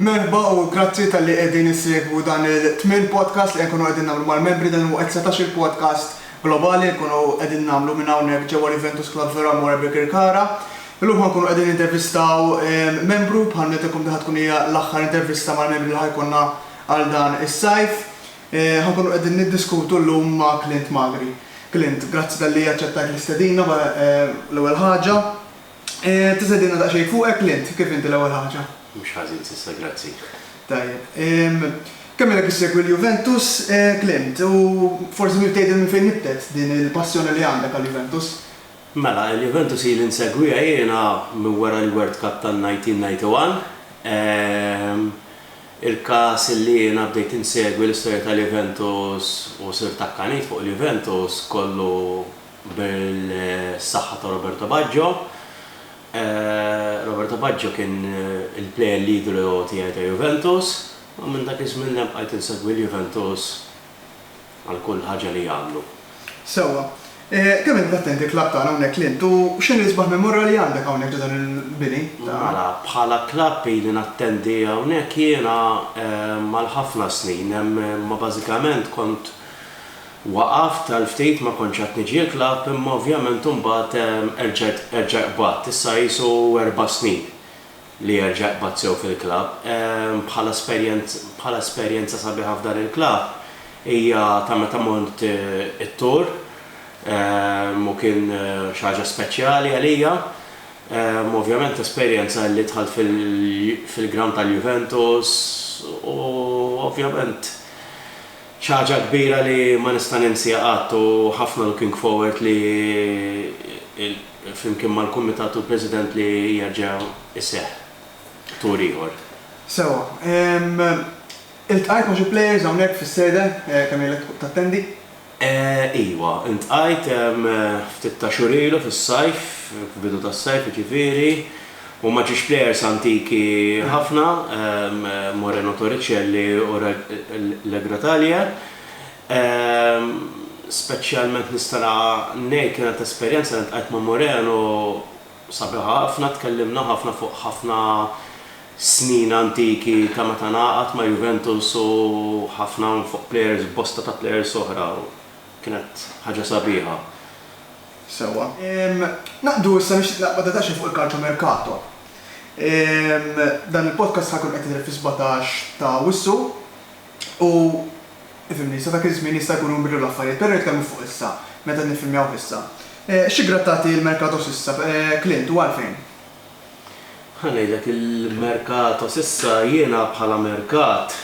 Merħba u grazzi talli qegħdin issegwu dan it-tmien podcast li qed nkunu qegħdin nagħmlu mal-membri. Dan huwa s-setax-il podcast globali li nkunu qegħdin nagħmlu minn hawnhekk ġewwa l-Juventus Club Vera Amore Birkirkara. Illum ħa nkunu qegħdin nintervistaw membru, bħal nidhirkom din ħa tkun hija l-aħħar intervista mal-membri li ħa jkollna għal dan is-sajf. Ħa nkunu qegħdin niddiskutu llum ma' Clint Magri. Clint, grazzi talli aċċettajt l-istedina l-ewwel ħaġa. Tista' tgħidilna daqsxejn fuqek li int, kif inti l-ewwel ħaġa? Mhux ħażin s'issa, grazzi. Tajjeb. Kemm ilek issegwi l-Juventus, Clint, u forsi trid tgħidilna minn fejn nibtet din il-passjoni li għandek għall-Juventus? Mela, il-Juventus ili nsegwiha jiena minn wara l-World Cup tan-1991. Il-każ li jiena bdejt insegwi l-istorja tal-Juventus u sirt akkanit fuq il-Juventus kollu, Bil-saħħa ta' Roberto Baggio. Roberto Baggio kien il-plejer l-idolu tiegħi ta' Juventus u minn dak iż-żmien l-hemm bqajt insegwi l-Juventus għal kull ħaġa li jagħmlu. Sewwa. Kemm int l-attend il-klabb tagħna hawnhekk l-int u x'inhi l-isbaħ memorali li għandek hawnhekk ġo dan il-bini? Mela, bħala klabb ili nattendi hawnhekk jiena għal ħafna snin, imma bażikament kont, Waqaft għal ftit ma kontx qed niġi l-klabb imma ovvjament imbagħad erġajt erġa' qbadt. Issa qisu erba' snin li erġa' qbadt sew fil-klabb. Bħala esperjenz bħala esperjenza sabiħa f'dan il-klabb hija ta' meta mort it-tour u kien xi ħaġa speċjali għalija. Ovvjament esperjenza li dħalt fil fil-ground tal-Juventus u ovvjament. Xi ħaġa kbira li ma nista' ninsiha qatt u ħafna looking forward li flimkien mal-Kumitat u l-President li jerġa' jseħħ tour ieħor. Sewwa. Iltqajt ma' xi players hawnhekk fis-sede kemm ilek tattendi? Iwa, iltqajt ftit ta' xhur ilu fis-sajf, f'bidu tas-sajf jiġifieri. Huma ġiex plejers antiki ħafna, Moreno Torricelli u Le Grottaglie. Speċjalment nista' ngħid kienet esperjenza li ltqajt ma' Moreno sabiħa ħafna, tkellimna ħafna fuq ħafna snin antiki ta' meta ngħaqad ma' Juventus u ħafna fuq plejers bosta ta' plejers oħra u kienet ħaġa sabiħa. Sewwa. Naqdu issa nixtieq naqba' daqsxejn fuq il-calciomercato. Dan il-podcast ħa jkun qed jidher fis-sbatax ta' Awwissu u ifhimni, sa dak iż-żmien jista' jkun inbidlu l-affarijiet, però nitkellmu fuq issa, meta qed niffilmjawh issa. Xi grad tagħti l-mercato s'issa, Clint, u għalfejn? Ħa ngħidlek, il-mercato s'issa jiena bħala mercat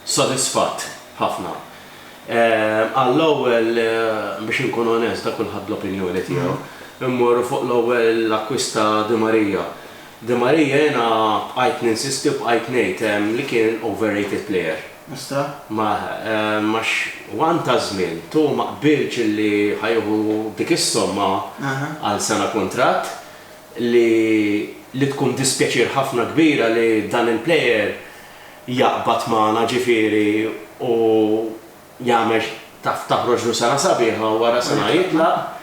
Sodisfatt ħafna. Għall-ewwel, biex inkun onest, da kulħadd bl-opinjoni tiegħu. Immorru fuq l-ewwel l-akkwist ta' Di Maria. Di Maria jiena bqajt ninsisti u bqajt ngħid li kien overrated player. Ostra? Mah, għax one ta' żmien tu ma qbilx li ħa jieħu dik is-somma għal sena kuntratt li li tkun dispjaċir ħafna kbira li dan il-player jaqbad magħna ġifieri u jagħmel taf taħroġlu sena sabiħa u wara sena jitlaq,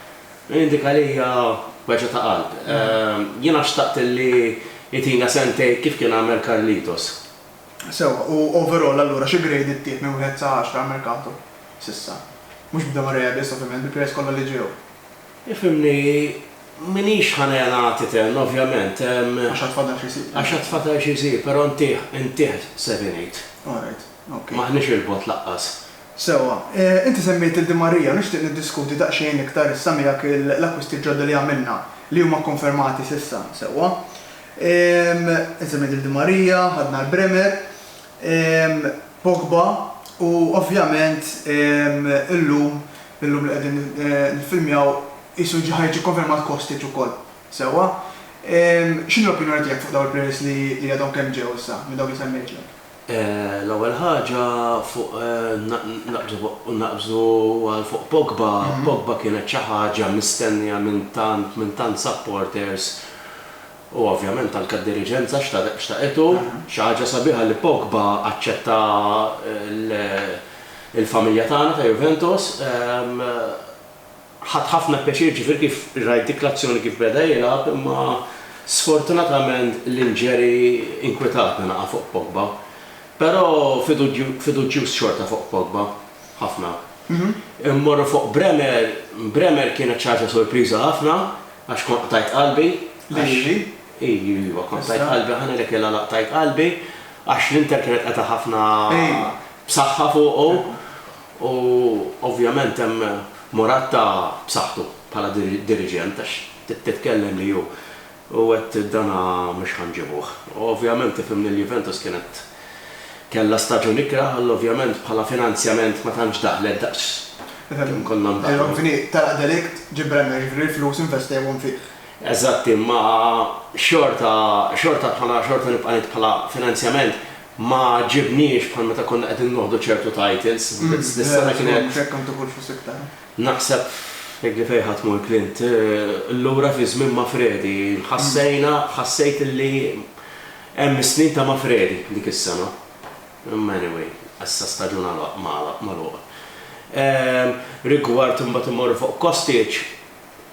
dik għalija weġgħa ta' qalb. Jiena xtaqt li jtina sentejn kif kien għamel Carlitos. Sewwa, u overall allura xi grade ittieħed minn wieħed sa għaxra għall-merkato s'issa? Mhux b'Demareabis ovvjament, bil-players kollha li ġew. Ifhimni, m'iniex ħa negħlaq titenn, ovvjament, hemm. Għax għad fadal xi jsir. Għax għad fadal xi jsir, però ntih, ntih se din ngħid. All right, ok. M'aħniex 'il bogħod laqqas. Sewwa. Inti semmejt lil Di Maria u nixtieq niddiskuti daqsxejn iktar issa miegħek l-akkwisti ġodda li għamilna, li huma kkonfermati s'issa, sewwa. Inti semmejt lil Di Maria, ħadna l-Bremer. Pogba u ovvjament illum, illum li qegħdin niffilmjaw qisu ġie ħareġ ikkonfermat Kostic ukoll. Sewwa? X'inhi l-opinjoni tiegħek fuq dawn il-players li għadhom kemm ġew issa minn dawk li semmejtlek? L-ewwel ħaġa fuq naqbżu u naqbżu għal fuq Pogba, Pogba kienet xi ħaġa mistennija minn tant minn tant supporters U ovvjament anke d-diriġenza xtaqetu. Xi ħaġa sabiħa li Pogba aċċetta l-familja tagħna ta' Juventus. Ħadt ħafna pjaċir ġifieri kif rajt dik l-azzjoni kif beda jilgħab imma sfortunatament l-injury inkwitatna naqa' fuq Pogba. Però fiduġjuż xorta fuq Pogba. Ħafna. Immorru fuq Bremer, Bremer kienet xi ħaġa sorpriża ħafna Għax kont qtajt qalbi, għax. Lili? Iju, iva, kont qtajt qalbi, ħa ngħidlek li l-għala qtajt qalbi, għax l-Inter kienet qed tagħha ħafna b'saħħa fuqu, u ovvjament hemm Moratta b'saħħtu bħala diriġent, għax titkellem li hu qed dan mhux ħa nġibuh. U ovvjament tifhimni l-Juventus kienet. Kellha staġun ikrah għal ovvjament bħala finanzjament ma tantx daħlet daqs kemm konna ndaħlu. Fini, telaq delikt, ġieb Brenner, jiġifieri l-flus investewhom fih. Eżatt imma xorta, xorta bħala, xorta nibqa' ngħid bħala finanzjament ma għaġġibniex bħal meta konna qegħdin noħdu ċertu titles. Dis-sena kienet. Mhux hekk kemm tieħu l-flus iktar. Naħseb li fejn ħa tmur Clint, lura fi żmien Mafredi, ħassejna, ħassejt illi Hemm is-snin ta' Mafredi dik is-sena. Imma anyway, issa staġun għalaq, magħlaq, magħluq. Rigward imbagħad immorru fuq Kostic,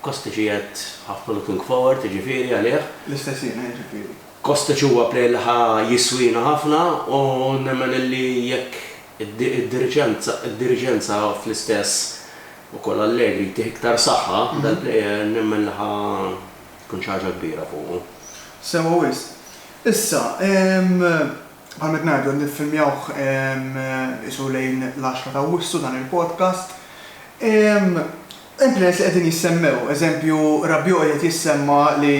Kostic qiegħed ħafna looking forward jiġifieri għalih. L-istess jiena jiġifieri. Kostic huwa player li ħa jiswina ħafna u nemmen illi jekk id-diriġenza fl-istess ukoll Allegri jtih iktar saħħa, dal-player nemmen li ħa Tkun xi ħaġa kbira fuqu. Sewwa wisq. Issa, bħal ma qed ngħidu qed niffilmjawh qisu lejn l-għaxra ta' Awwissu dan il-podcast. Hemm players li qegħdin jissemmew, eżempju Rabiot qiegħed jissemma' li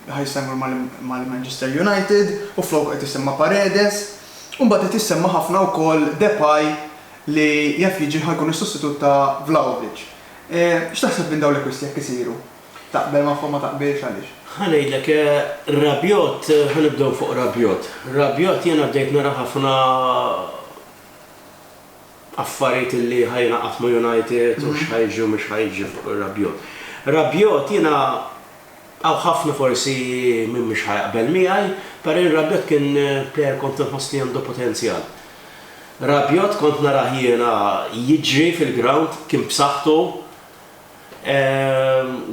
ħa jsemma' mal-Manchester United u floku qed isemma' Paredes. U mbagħad qed jissemma' ħafna wkoll Depay li jaf jiġi ħa jkun is-sostitut ta' Vlahovic. X'taħseb minn dawn l-akkwisti jekk isiru? Taqbel magħhom ma taqbilx għaliex? Ħa ngħidlek, Rabiot, ħa nibdew fuq Rabiot. Rabiot jiena bdejt nara ħafna affarijiet li ħa jingħaqad ma' United u x'ħa jiġi u mhux ħa jiġi fuq Rabiot. Rabiot jiena hawn ħafna forsi min mhux ħa jaqbel miegħi, però jien Rabiot kien plejer kont inħoss li għandu potenzjal. Rabiot kont narah jiena jiġri fil-grawnd, kien b'saħħtu.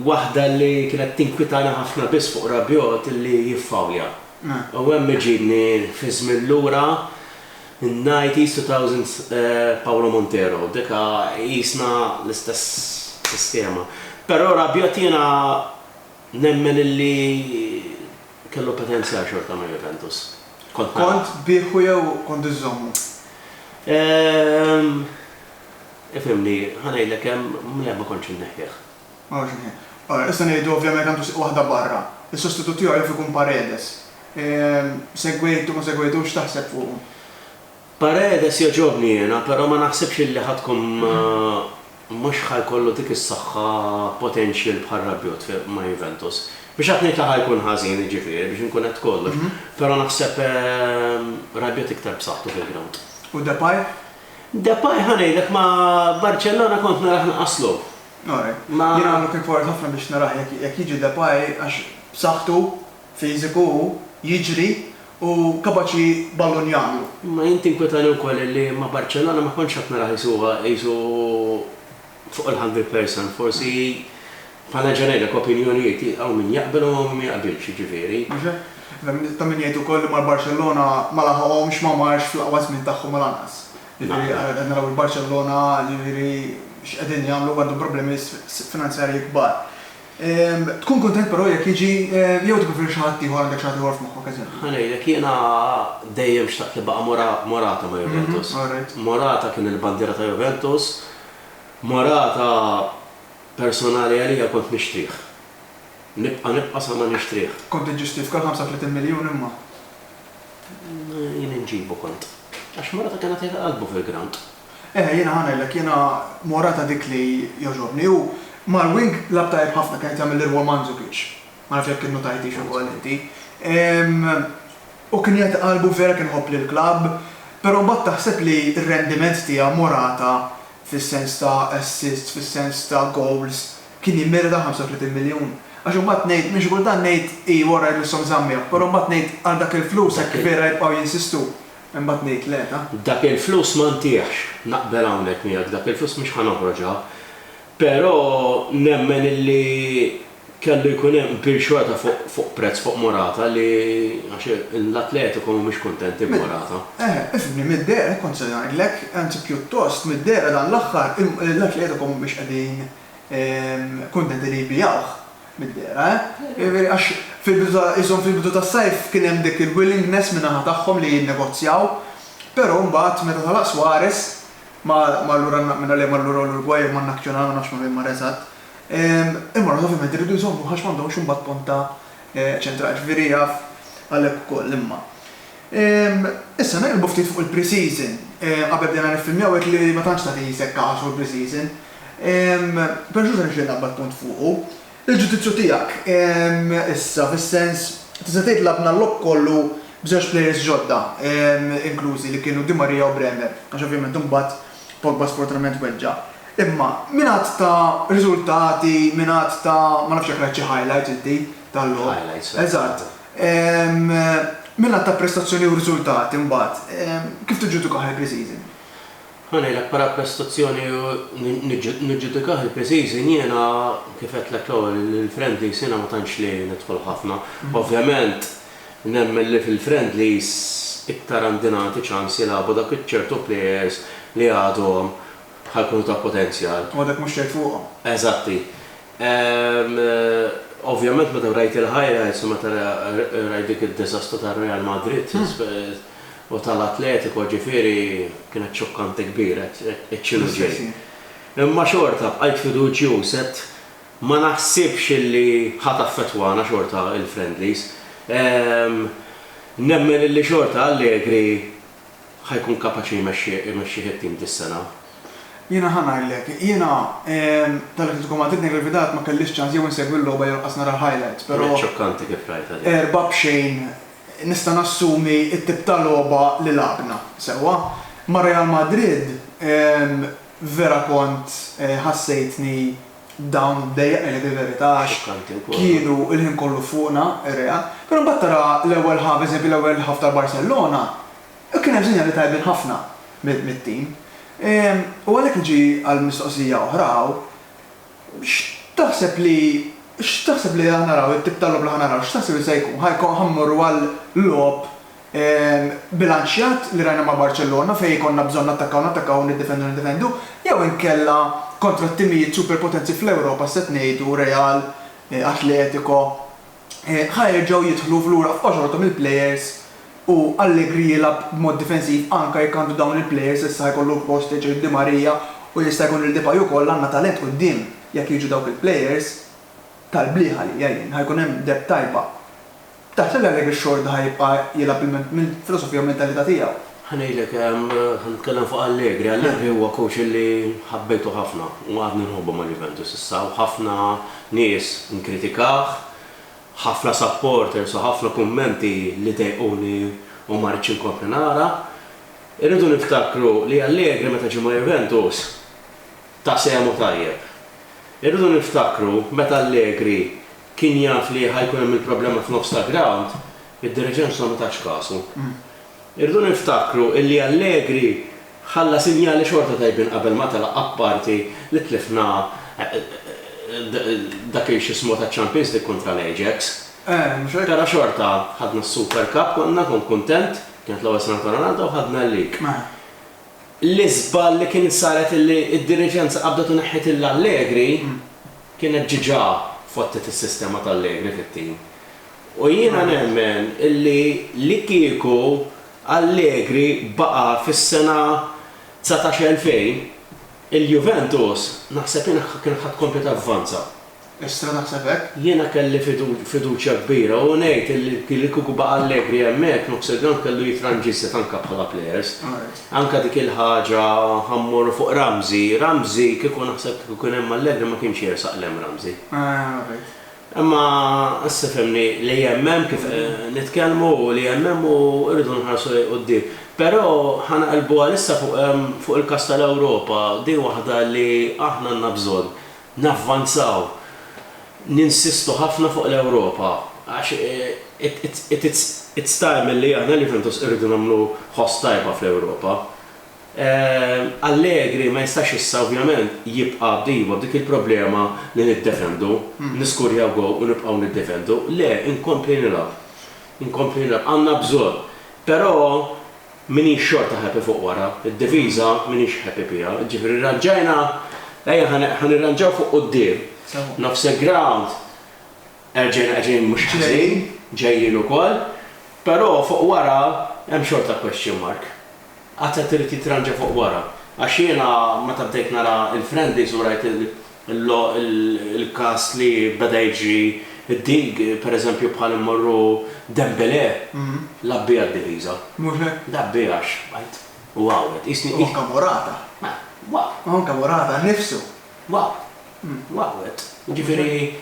Waħda li kienet tinkwitani ħafna biss fuq Rabiot li jiffawlja. U hemm iġibni fiż-żmien lura, in-nineties, two thousands, Paolo Montero. Dik qisna l-istess sistema. Però Rabiot jiena nemmen illi kellu potenzjal xorta ma' Juventus. Kont nara. Kont tbigħhu jew kont iżżommu? Ifhimni, ħa ngħidlek hemm, le ma kontx inneħħih. Ma kontx inneħħih. Allura, issa ngħidu ovvjament għandu sieq waħda barra. Is-sostitut tiegħu jaf ikun Paredes. Segwejtu, ma segwejtux, x'taħseb fuqu? Paredes jogħġobni jiena, però ma naħsibx illi ħa tkun mhux ħa jkollu dik is-saħħa potential bħal Rabiot ma' Juventus. Biex hekk ngħid la ħa jkun ħażin, jiġifieri, biex inkun għedt kollox, però naħseb Rabiot iktar b'saħħtu fil-grawnd. U Depay? Depay ħa ngħidlek ma' Barcellona kont narah nqas logħob. Alright. Jien I'm looking forward ħafna biex narah jekk jiġi Depay għax b'saħħtu, fiżiku hu, jiġri u kapaċi ballun jagħmlu. Imma jien tinkwetani wkoll li ma' Barcellona ma kontx qed narah qisu qisu Fuq il-hungry person forsi bħala ġenerik opinjonijiet hawn min jaqbel u hawn min ma jaqbilx jiġifieri. Hemm ta' min jgħid ukoll li mar Barċellona ma laħaqhomx ma marx fl-aqwa żmien tagħhom u lanqas. Jiġifieri qed naraw il-Barċellona jiġifieri x'qegħdin jagħmlu għandhom problemi biss finanzjarji kbar. Tkun kuntent però jekk jiġi jew tippreferi xi ħadd ieħor għandek xi ħadd ieħor f'moħħok eżempju? Ħa ngħidlek jiena dejjem xtaqt li baqa' Morata ma' Juventus. Morata kien il-bandiera ta' Juventus. Marata personali għalija kont nixtrih. Nibqa' nibqa' sa ma nixtrih. Kont inġistif kal 35 miljun imma. Jien inġibu kont. Għax Marata kien għatih qalbu fil-ground. Eħe jiena ħa ngħidlek jiena Morata dik li jogħġobni hu mar wing lagħab tajjeb ħafna kien qed jagħmel l-irwol ma' Mandzukic. Ma nafx jekk innutajtix ukoll inti. U kien jgħid qalbu vera kien iħobb lill-klabb, però mbagħad taħseb li r-rendiment tiegħu Morata fis-sens ta' assists, fis-sens ta' gowls, kien jimmerita 35 miljun? Għax imbagħad ngħid, minn xi kultant ngħid, ii wara jmisshom żammieħ, però mbagħad ngħid għal dak il-flus hekk vera jibqgħu jinsistu? Imbagħad ngħid le, ta. Dak il-flus ma ntihx, naqbel hawnhekk miegħek, dak il-flus mhux ħa noħroġha, però nemmen illi, Kellu jkun hemm bil xorta fuq prezz fuq Morata li għax l-Atletico mhumiex kuntenti b'Morata. Eħe, ifhimni, mid-dehra hekk kont se ngħidlek, anzi pjuttost mid-dehra dan l-aħħar l-Atletico mhumiex qegħdin kuntenti li jbigħuh, mid-dehra eh. Jiġifieri għax fil-bidu ta' qishom fil-bidu tas-sajf kien hemm dik il-willingness min-naħa tagħhom li jinnegozjaw, però mbagħad meta telaq Suarez ma' lura, minn għalih mar lura l-Urugwaj jew man-Nacional ma nafx ma' min mar eżatt, Imma l-oħra ovvjament iridu jżommuha għax m'għandhomx imbagħad pont ta' ċentrali. Ġifieri jaf għalhekk ukoll imma. Issa neqilbu ftit fuq il-pre-season. Qabel bdejna niffilmjaw għedt li ma tantx tagħti sekka ħa xogħol pre-season. Però xorta nixtieq naqbad punt fuqu. Il-ġudizzju tiegħek issa fis-sens tista' tgħid lagħbna l-logħob kollu b'żewġ players ġodda inklużi li kienu Di Maria u Bremer għax ovvjament imbagħad Pogba sfortunatament weġġa'. Imma minn għadd ta' riżultati, minn għadd ta' ma nafx jekk rajt xi highlights inti tal-logħob. Highlights, right. Eżatt. Minn għadd ta' prestazzjoni u riżultati mbagħad, kif tiġġudikah il-pre-season? Ħa ngħidlek, bħala prestazzjoni u niġġudikah il-pre-season jiena kif għedtlek l-ewwel, il-friendlies jiena ma tantx li nidħol ħafna. Ovvjament Nemmen li fil-friendlies iktar għandi nagħti ċans jilagħbu dak iċ-ċertu players li għadhom ħa jkunu ta' potenzjal. U għadek mhux tgħid fuqhom. Eżatti. Ovvjament meta rajt il-highlights u meta rajt dik id-diżastru tar-Real Madrid u tal-Atletico ġifieri kienet xokkanti kbira, għedt x'inhu ġej. Imma xorta bqajt fiduċjuż, għedt Ma naħsibx illi ħa taffettwana xorta il-friendlies. Nemmen illi xorta Allegri ħa jkun kapaċi jmexxih it-tim dis-sena. Jiena ħa ngħidlek. Jiena tal-Atletico Madrid Negrevidad ma kellix ċans jew insegwi l-logħba jew lanqas nara l-highlights, però. Kienet xokkanti kif rajtha din. Erbgħa b'xejn nista' nassumi t-tip ta' logħba li lagħabna, sewwa. Ma' Real Madrid vera kont ħassejtni. dawn dejjaqni li fil-verità għax kienu l-ħin kollu fuqna ir-reja. Però mbagħad tara l-ewwel ħaf, eżempju l-ewwel ħaf ta' Barcellona, kien hemm sinjali tajbin ħafna mit-tim. U għalhekk niġi għall-mistoqsija oħra hawn, x'taħseb li x'taħseb li ħa naraw, it-tip ta' logħob li ħa naraw, x'taħseb li se jkun? Ħa mmorru għal logħob bilanċjat li rajna ma' Barċellona fejn ikollna bżonn nattakkaw nattakkaw u niddefendu niddefendu jew inkella kontra t-timijiet superpotenzi fl-Ewropa x'se ngħidu Real, Atletico, ħa jerġgħu jidħlu f'lura f'qoxorothom il-plejers u Allegri jilgħab b'mod difensiv anke jekk għandu dawn il-plejers issa ħa jkollu l-post li jċeħ Di Maria u jista' jkun li Depay ukoll għandna talent quddiem jekk jiġu dawk il-plejers tal-bliħa li jgħin ħa jkun hemm depth tajba. Taħsibha li biex xorta ħa jibqa' jilgħab il-men mill-filosofija u mentalità tiegħu? Ħa ngħidlek, ħa nitkellem fuq Allegri. Allegri huwa coach li ħabbejtu ħafna u għadni nħobbu ma' Juventus issa u ħafna nies nkritikah, ħafna supporters u ħafna kummenti li dejquni u ma ridtx inkompli nara. Irridu niftakru li Allegri meta ġie ma' Juventus ta' sehmu tajjeb. Irridu niftakru meta Allegri kien jaf li ħa jkun hemm il-problema f'nofs ta' grawnd, id-Direġenza ma tatx kasu. Irridu niftakru li Allegri ħalla sinjali xorta tajbin qabel ma telaq apparti li tlifna dak il-x'ismu taċ-Champions League kontra l-Ajax. Però xorta ħadna s-Super Cup konna, kont kuntent, kienet l-ewwel sena ta' Ronaldo u ħadna l-League. L-iżball li kien saret illi d-diriġenza qabdet u neħħiet lil Allegri kienet ġiġa fottet is-sistema ta' Allegri fit-tim. U jiena nemmen illi li kieku Allegri baqa' fis-sena dsatax 2000, il-Juventus naħseb jien kienet ħa tkompli tavvanza. Issa naħseb hekk. Jiena kelli fiduċja kbira u ngħid li li kieku baqa' Allegri hemmhekk Nofsegrandt kellu jitranġiset anke bħala plejers. Anke dik il-ħaġa ħa mmorru fuq Ramsey, Ramsey kieku naħseb kieku kien hemm Allegri ma kienx jersaq 'l hemm Ramsey. Imma issa fehmni li hemm hemm kif nitkellmu u li hemm hemm u rridu nħarsu lejn quddiem. Però ħa naqilbu għalissa fuq il-każ tal-Ewropa, din waħda li aħna għandna bżonn navvanzaw, ninsistu ħafna fuq l-Ewropa għax it's time illi aħna l-Juventus irridu nagħmlu ħoss tajba fl-Ewropa. Allegri ma jistax issa ovvjament jibqa' b'diva b'dik il-problema li niddefendu, niskurjaw goal u nibqgħu niddefendu. Le, inkompli nilgħab. Inkompli nilgħab. Għandna bżonn. Però M'iniex xorta happy fuq wara, id-diviża m'iniex happy biha, jiġifieri rranġajna, ejja ħa nirranġaw fuq quddiem, nofs il-grawnd erġajna qegħdin mhux ħażin, ġejjin ukoll, però fuq wara hemm xorta question mark. Qatt qed irid jitranġa fuq wara, għax jiena meta bdejt nara l-friendlies u rajt il, Il-każ li beda jiġri d-dig, pereżempju bħal immorru Dembele, l-għabbi għad-diviża. Mhux hekk? L-għabbi għax b'għajt u għawwed. Qisni. U anke Morata. U anke Morata nnifsu. Għawwed. Jiġifieri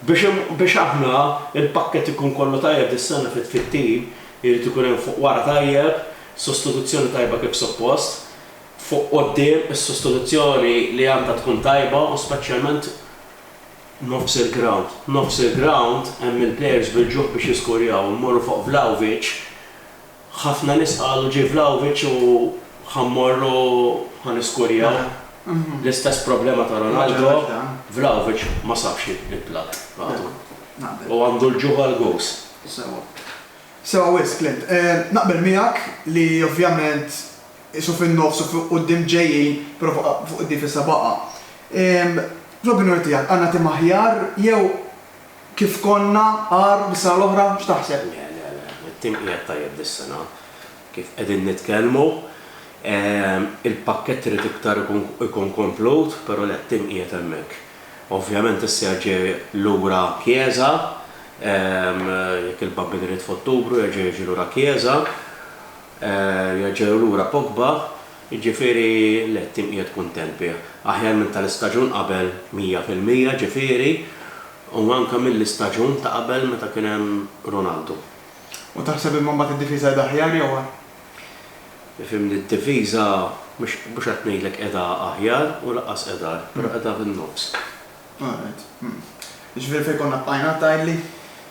biex aħna l-pakkett ikun kollu tajjeb dis-sena fit-tim, irid ikun hemm fuq wara tajjeb, sostituzzjoni tajba kif suppost. fuq quddiem is-sostituzzjoni li għandha tkun tajba u speċjalment nofs il-grawnd. Nofs il-grawnd hemm il-plejers bil-ġuħ biex jiskurjaw. Immorru fuq Vlahovic, ħafna nies qalu ġie Vlahovic u ħa mmorru ħa niskurjaw. L-istess problema ta' Ronaldo, Vlahovic ma sabx il-platt għadu. U għandu l-ġuħ għall-gowls. Sewwa. Sewwa wisq, Clint. Naqbel miegħek li ovvjament, qisu fin-nofs u fuq quddiem ġejjin, però fuq id-dif issa baqa'. Fl-opinjoni tiegħek għandna tim aħjar jew kif konna agħar mis-sena l-oħra? X'taħseb? Le, le, le. It-tim qiegħed tajjeb dis-sena. Kif qegħdin nitkellmu, il-pakkett irid iktar ikun komplut, però le, t-tim qiegħed hemmhekk. Ovvjament issa ġie lura Chiesa, jekk il-Bambin irid f'Ottubru jerġa' jiġi lura Chiesa. Jerġgħu lura Pogba, jiġifieri le t-tim qiegħed kuntent bih. Aħjar minn tal-istaġun qabel mija fil-mija ġifieri u anke mill-istaġun ta' qabel meta kien hemm Ronaldo. U taħseb imma mbagħad id-difiża qiegħda aħjar jew agħar? Ifhimni d-difiża mhux qed ngħidlek qiegħda aħjar u lanqas qiegħda agħar, però qiegħda fin-nofs. All right. Hm. Jiġifieri fejn konna bqajna, tgħidli?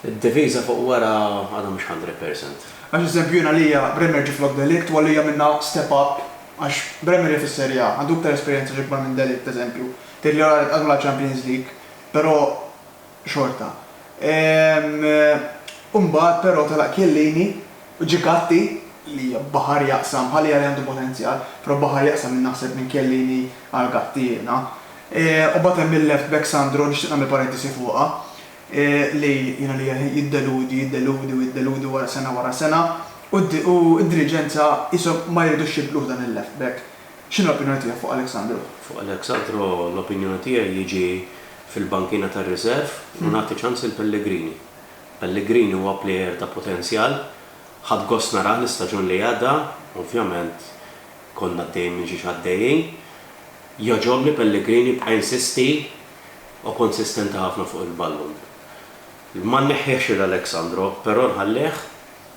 Id-diviża fuq wara għadha mhux hundred percent. Għax eżempju jien għalija Bremer ġie flok de Ligt u għalija minna step up għax Bremer jaf is-Serie A, għandu iktar esperjenza xi kbar minn de Ligt eżempju. Tgħidli all right qasmu l-Champions League, però xorta. Ehm u mbagħad però telaq Chiellini, Ġikatti, li baħar jaqsam, Ħal Jari għandu potenzjal, però baħar jaqsam minn naħseb minn Chiellini għal Gatti jiena. U mbagħad hemm il-left back Sandro, nixtieq nagħmel parentesi fuqha, li jiena li jiddeludi, jiddeludi u jiddeludi wara sena wara sena u d-diriġenza qishom ma jridux jibdluh dan il-left back. X'inhi l-opinjoni tiegħek fuq Alex Sandro? Fuq Alex Sandro l-opinjoni tiegħi jiġi fil-bankina tar-riserv u nagħti ċans lil Pellegrini. Pellegrini huwa plejer ta' potenzjal. Ħadt gost narah l-istaġun li għadda, ovvjament konna għaddejjin minn xi x'għaddejjin. Jogħġobni Pellegrini jibqa' jinsisti u konsistenti ħafna fuq il-ballun. Ma nneħħihx lil Alex Sandro, però nħallih.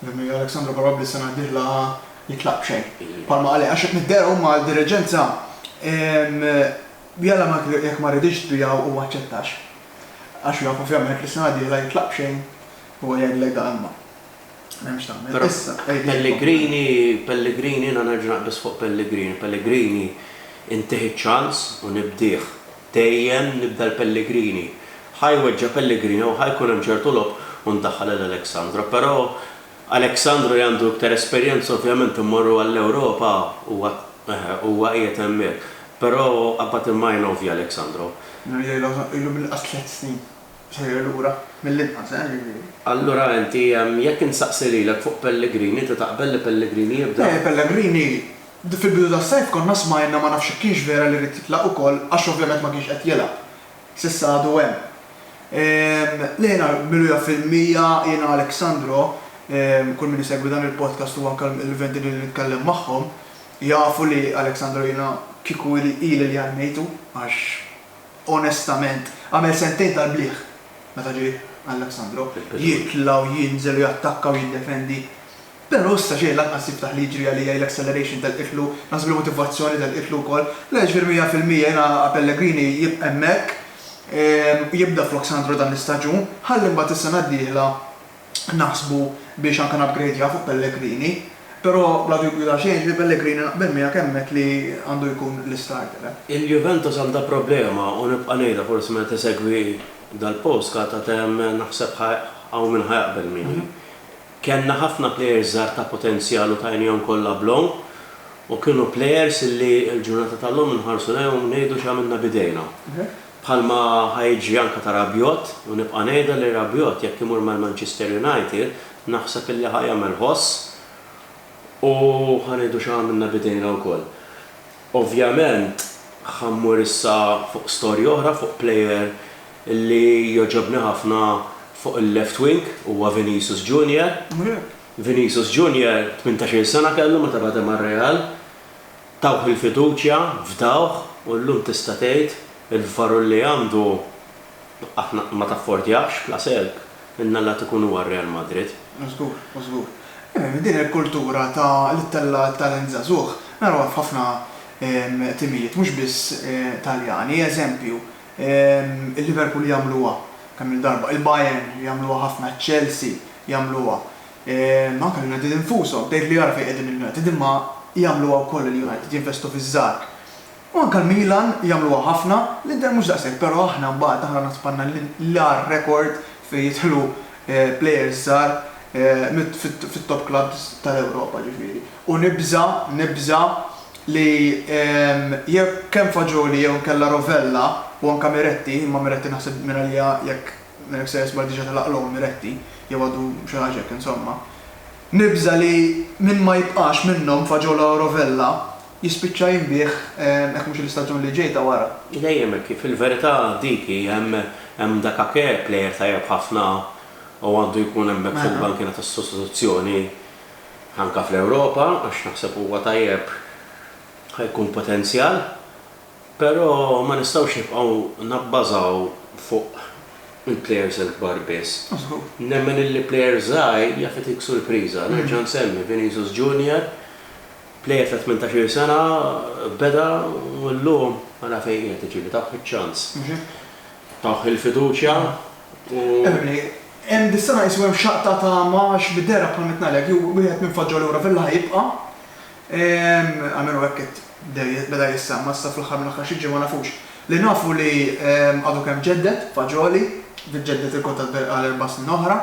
Rimmi, Alex Sandro probabbli s-sena d-dieħla jitlaq b'xejn. Bħalma qal, għax qed niddehru imma għad-diriġenza jalla jekk ma riditx tbiegħu u ma aċċettax. Għax jaf ovvjament li s-sena d-dieħla jitlaq b'xejn u jgħidlek da imma. M'hemmx tagħmel. Issa, Pellegrini, Pellegrini, jiena nerġa' naqbeż fuq Pellegrini. Pellegrini intih iċ-ċans u nibdih. Dejjem nibda l-Pellegrini. Ħa jweġġa' Pellegrini u ħa jkun hemm ċertu logħob u ndaħħal lil Alexandro. Però Alexandru li għandu iktar esperjenza ovvjament immorru għall-Ewropa huwa eħe huwa qiegħed hemmhekk. Però qabbad il-majna u via Alexandro. Mela jgħidilhom ilu mill-inqas tliet snin sejjer lura, mill-inqas eħe jiġifieri. Allura inti jekk insaqsi lilek fuq Pellegrini inti taqbel li Pellegrini jibda? Le Pellegrini fil-bidu tas-sajf konna smajna ma nafx jekk kienx vera li ried jitlaq ukoll għax ovvjament ma kienx qed jilgħab. S'issa għadu hemm. Le jiena miluja fil-mija, jiena Alexandro, kull min isegwi dan il-podcast u anke l-utenti li nitkellem magħhom jafu li Alexandro jiena kieku ili ili li għannejtu għax onestament għamel sentejn tal-bliħ meta ġie Alexandro jitla' u jinżel u jattakka u jiddefendi Pero issa xejn lanqas jiftaħ li jiġri għalija l-acceleration tal-qitlu, naħseb li motivazzjoni tal-qitlu wkoll. Le ġifieri mija fil-mija jiena Pellegrini jibqa' hemmhekk u jibda flok Sandro dan l-istaġun, ħalli mbagħad is-sena d-dieħla naħsbu biex anke napgrejdjaw fuq Pellegrini. Pero bla dubju ta' xejn ġifieri Pellegrini naqbel miegħek hemmhekk li għandu jkun l-istarter hemm. Il-Juventus għandha problema u nibqa' ngħidha forsi meta isegwi dal-postcard għad hemm naħseb hawn min ħa jaqbel miegħi. Kellna ħafna plejers żgħar ta' potenzjal u tajnihom kollha bl-għom u kienu plejers li l-ġurnata tal-lum inħarsu lejhom u ngħidu x'għamilna b'idejna. Bħalma ħa jiġri anke ta' Rabiot u nibqa' ngħidha li Rabiot jekk imur mal-Manchester United naħseb illi ħa jagħmel ħoss u ħa ngħidu x'għamilna b'idejna wkoll. Ovvjament ħa mmur issa fuq storja oħra fuq player li jogħġobni ħafna fuq il-left wing huwa Vinicius Junior. Vinicius Junior tmintax-il sena kellu meta bada mar-Real, tawh il-fiduċja, fdawh u llum tista' tgħid il-varur li għandu, Aħna ma taffordjahx bla selk, in-nallat ikun huwa r-Real Madrid. Żgur, żgur. Din il-kultura ta' li ttella' t-talent żagħżugħ narawha f'ħafna timijiet mhux biss Taljani. Eżempju, il-Liverpool jagħmluha kemm-il darba, il-Bayern jagħmluha ħafna, ċ-Chelsea jagħmluha, anke l-United infushom, tgħid li ara fejn qegħdin il-United imma jagħmluha wkoll il-United, jinvestu fiż-żgħar. U anke l-Milan jagħmluha ħafna, l-Inter mhux daqshekk, però aħna mbagħad aħna naħseb għandna l-agħar rekord fejn jidħlu plejers żgħar fit-top clubs tal-Ewropa ġifieri. U nibża', nibża' li jekk kemm Fagioli jew inkella Rovella u anke Miretti, imma Miretti naħseb mingħalija jekk Milik se jisbaħ diġà telaqlhom Miretti, jew għadu xi ħaġa hekk insomma, nibża' li min ma jibqax minnhom Fagiola u Rovella Jispiċċa jinbiegħ hekk mhux l-istaġun li ġej ta' wara. Dejjem hekk hi, fil-verità dik hi, hemm dak Ake, plejer tajjeb ħafna u għandu jkun hemmhekk fil-bankiena tas-sostituzzjoni anke fl-Ewropa għax naħseb huwa tajjeb ħa jkun potenzjal, però ma nistgħux nibqgħu nabbażaw fuq il-plejers il-kbar biss. Nemmen illi plejer żgħir jaf itik surpriża, nerġa' nsemmi Vinicius Junior Plejer ta' tmintax-il sena beda u llum ara fejn qiegħed, jiġifieri tawh iċ-ċans. Mhux hekk? Tawh il-fiduċja u. Emily, Hemm dis-sena qisu hemm xaqq ta' tama għax bid-dehra bħal ma qed ngħidlek jew wieħed minn Foġġa lura Villa ħa jibqa'. Almenu hekk qed beda jissemma' issa fl-aħħar mill-aħħar xi ġimgħa nafux. Li nafu li għadu kemm ġedded, Fagioli, ġedded il-kuntratt għal erba' snin oħra.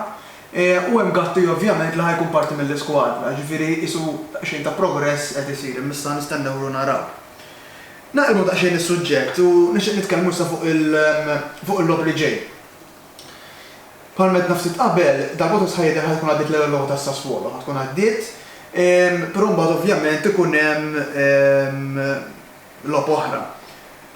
U hemm Gatti ovvjament li ħa jkun parti mill-iskwadra, ġifieri qisu daqsxejn ta' progress qed isir, imma issa nistennewlu naraw. Naqilbu daqsxejn is-suġġett u nixtieq nitkellmu issa fuq fuq il-logħob li ġej. Bħalma għedna ftit qabel, darb'oħra sħaħ jidher ħa tkun għaddiet l-ewwel logħba ta' Sassuolo, ħa tkun għaddiet, però mbagħad ovvjament ikun hemm Logħob oħra.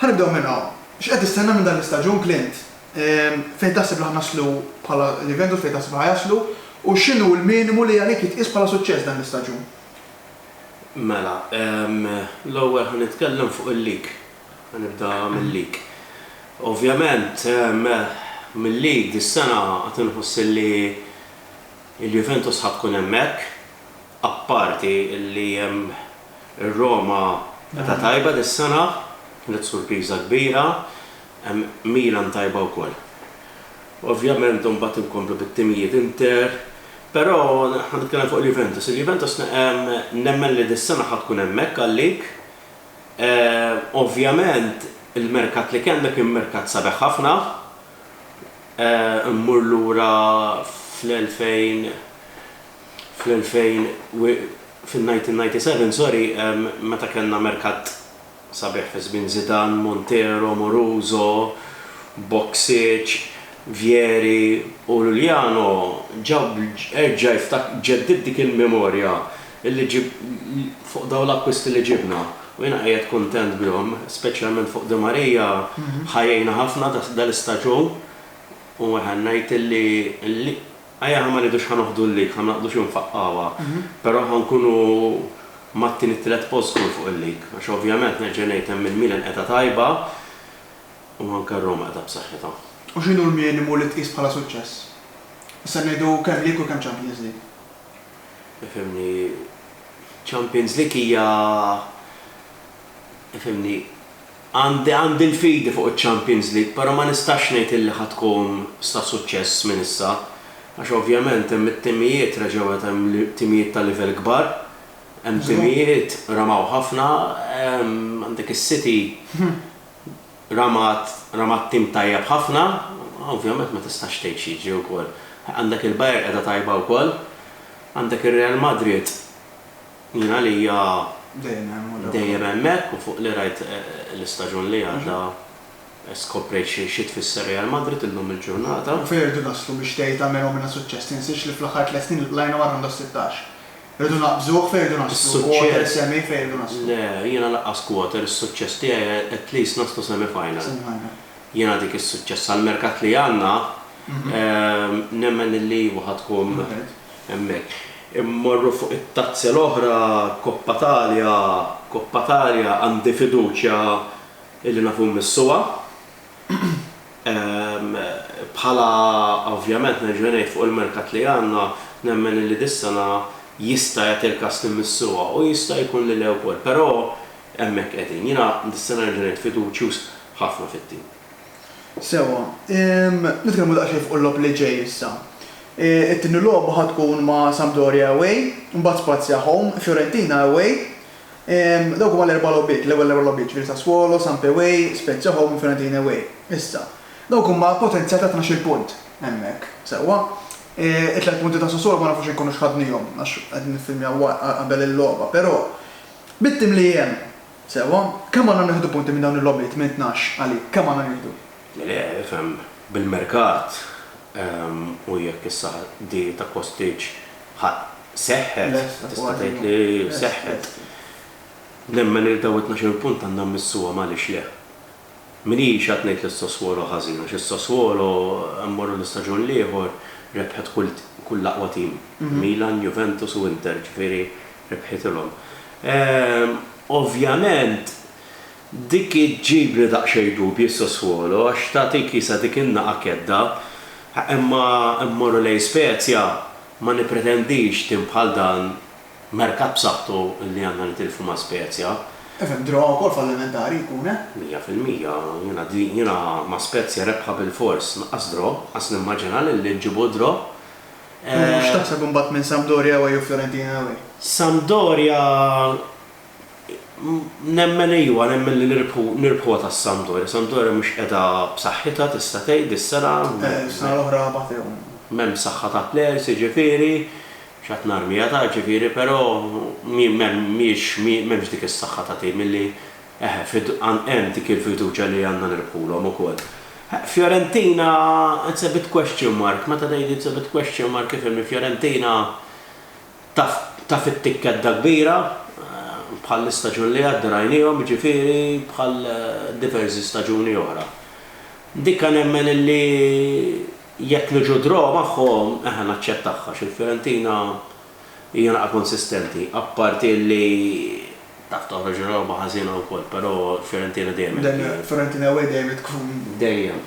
Ħa nibdew minn hawn. X'qed tistenna minn dan l-istaġun, Clint? Fejn taħseb li ħa naslu bħala Juventus, fejn taħseb li ħa jaslu, u x'inhu l-minimu li għalik jitqies bħala suċċess dan l-istaġun? Mela, l-ewwel ħa nitkellem fuq il-league. Ħa nibda mil-league. Ovvjament, mil-league dis-sena għad inħoss li l-Juventus ħa tkun hemmhekk, apparti li hemm Ir-Roma qed tajba dis-sena, kienet surpiża kbira. Milan tajba wkoll. Ovvjament imbagħad inkomplu bit-timijiet Inter, però ħa nitkellem fuq il-Juventus. Il-Juventus nemmen li dis-sena ħa tkun hemmhekk għalik. Ovvjament il-merkat li kellna kien merkat sabiħ ħafna. Immur lura fl-2000, fl-2000 fin-1997 sorry meta kellna merkat sabiħ fi żmien Zidane, Montero, Moruso, Boksic, Vieri u Lluliano ġab erġa' ġġeddid dik il-memorja li fuq dawn l-akkwisti li ġibna u jiena qiegħed kuntent bihom speċjalment fuq Di Maria ħa jgħinna ħafna dal-istaġun u ngħid li Ajja aħna ma ngħidux ħa noħdu l-lig, ħa naqdu xi nfaqqgħuha, però ħa nkunu mat-tieni-tielet post żgur fuq il-lig, għax ovvjament nerġa' ngħid hemm il-Milan qiegħda tajba u anke r-Roma qiegħda b'saħħitha. U x'inhu l-minimu li tqis bħala suċċess? Issa ngħidu kemm lig u kemm Champions League. Ifhimni, Champions League hija, ifhimni, Għandi għandi l-fidi fuq iċ-Champions League però ma nistax ngħid illi ħa tkun sta suċċess minn issa għax ovvjament hemm it-timijiet reġgħu qed hemm timijiet ta' livell kbar, hemm timijiet ramaw ħafna, għandek is-City ramat ramat tim tajjeb ħafna, ovvjament ma tistax tgħid x'jiġri wkoll. Għandek il-Bayern qiegħda tajba wkoll, għandek ir-Real Madrid. Jien għalija dejjem hemmhekk u fuq li rajt l-istaġun li għadda skoprejt xi tfisser Real Madrid illum il-ġurnata. U fejn irridu naslu biex tgħid għamel u għamilna suċċess? Tinsiex li fl-aħħar tliet snin ilqlajna mar-rawnd tas-sittax. Irridu naqbżuh fejn irridu naslu, quarter, semi fejn irridu naslu. Le, jiena lanqas quarter, is-suċċess tiegħi at least naslu semi final. Jiena dik is-suċċess għall-merkat li għandna nemmen illi iva ħa tkun hemmhekk. Immorru fuq it-tazza l-oħra, Coppa Italia, Coppa Italia għandi fiduċja illi nafu mmissuha. Bħala, ovvjament nerġa' ngħid fuq il-merkat li għandna, nemmen illi dis-sena jista' jagħti l-każ li mmissuha u jista' jkun li le wkoll. Però hemmhekk qegħdin. Jiena dis-sena nerġa' ngħid fiduċjuż ħafna fit-tim. Sewwa. Nitkellmu daqsxejn fuq il-logħob li ġej issa. It-tieni logħba ħa tkun ma' Sampdoria away, imbagħad Spazia home, Fiorentina away. Dawk huma l-erba' logħbiet, l-ewwel erba' logħbiet, jiġifieri Sassuolo, Samp away, Spezia home u Fiorentina away. Issa, dawk huma potenzjal ta' tnax-il punt hemmhekk, sewwa. It-tliet punti ta' Sassuolo ma nafux jekk nkunux ħadnihom għax qegħdin niffilmjaw qabel il-logħba, però bit-tim li hemm Sewwa, kemm għandna nieħdu punti minn dawn il-logħbiet minn tnax, għalik, kemm għandna nieħdu? Le, ifhem, bil-merkat u jekk issa di ta' Kostic ħa seħħet, tista' tgħid li seħħet, nemmen li dawn it-tnax-il punt għandna mmissuhom għaliex le. Minix qed ngħid li s-Sassuolo ħażin għax is-Sassuolo, mmorru l-istaġun l-ieħor, rebħet kull kull l-aqwa tim, Milan, Juventus u Inter, ġifieri rebħitilhom. Ovvjament dik iġġibli daqsxejn dubji s-Sassuolo għax tagħtik isa dik in-nagħa kedda, imma mmorru lejn Spezia, ma nippretendix tim bħal dan Merkat b'saħħtu li għandna nitilfu ma' Spezia. Ifhem, draw ukoll fallimentari jkun, eh? Mija fil-mija. Jiena din, jiena ma' Spezia rebħa bilfors, lanqas draw, qas nimmaġina li li nġibu draw. U x'taħseb imbagħad minn Sampdoria away u Fiorentina away? Sampdoria, nemmen ejwa, nemmen li nirbħu, nirbħuha ta' Sampdoria. Sampdoria mhux qiegħda b'saħħitha tista' tgħid dis-sena. Eh, is-sena l-oħra batewhom. M'hemm saħħa ta' plejers jiġifieri. X'għad narmi, għad għad ġifieri però mhijiex m'hemmx dik is-saħħa ta' tim illi eħe hemm dik il-fiduċja li għandna nirbħulhom ukoll. Fiorentina it's a bit question mark, meta ngħid it's a bit question mark ifhimni Fiorentina taf taf it-tikkedda kbira bħall-istaġun li għadda rajniehom jiġifieri bħal diverżi staġuni oħra. Dikka nemmen illi Jekk niġu draw magħhom, eħe naċċettah għax il-Fiorentina hija naqa' konsistenti, apparti li taf toħroġ logħba ħażina wkoll, però l-Fiorentina dejjem qed tgħin. Dejjem, Fiorentina away dejjem qed tkun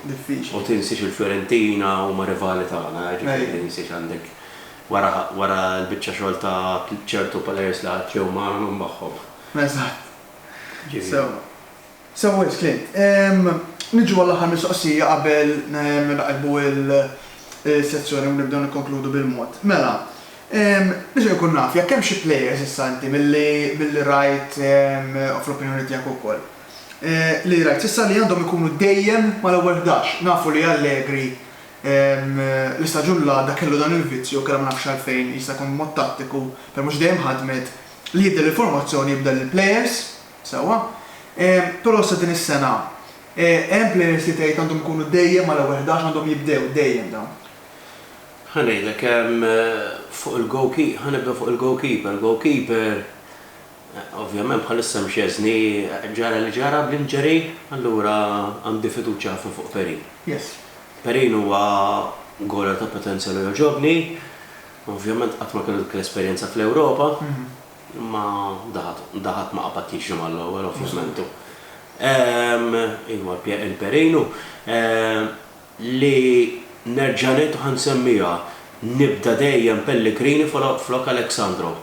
diffiċli. U tinsiex il-Fiorentina huma rivali tagħna, jiġifieri tinsiex għandek wara wara l-biċċa xogħol ta' ċertu players li għad tlew magħna min magħhom. Eżatt. Sew. Sew wisq tliet. Niġu għall-aħħar mistoqsija qabel nagħlqu l-sezzjoni u nibdew nikkonkludu bil-mod. Mela, nixtieq inkun naf jekk hemm xi players issa inti milli rajt u fl-opinjoni tiegħek ukoll, li rajt s'issa li għandhom ikunu dejjem mal-ewwel ħdax. Nafu li Allegri l-istaġun l-għadda kellu dan il-vizzju u kellha ma nafx għalfejn, jista' jkun mod tattiku, però mhux dejjem ħadmet, li jibdel il-formazzjoni, jibdel il-players. Sewwa. Però sa din is-sena hemm players li tgħid għandhom ikunu dejjem mal-ewwel ħdax, għandhom jibdew dejjem dawn? Ħa ngħidlek, fuq il-goalkee, ħa nibdew fuq il-goalkeeper. Goalkeeper, ovvjament bħalissa hemm Szczesny, ġara li ġara bl-injury, allura għandi fiduċja ħafna fuq Perin. Yes. Perin huwa goaler ta' potenzjal u jogħġobni. Ovvjament qatt ma kellu dik l-esperjenza fl-Ewropa. Imma daħat ma qabadtix ġimgħa l-ewwel ovvjament u ehm iva il-perin u ehm li nerġa' ngħid u ħa nsemmiha, nibda dejjem Pellegrini flok Alexandro.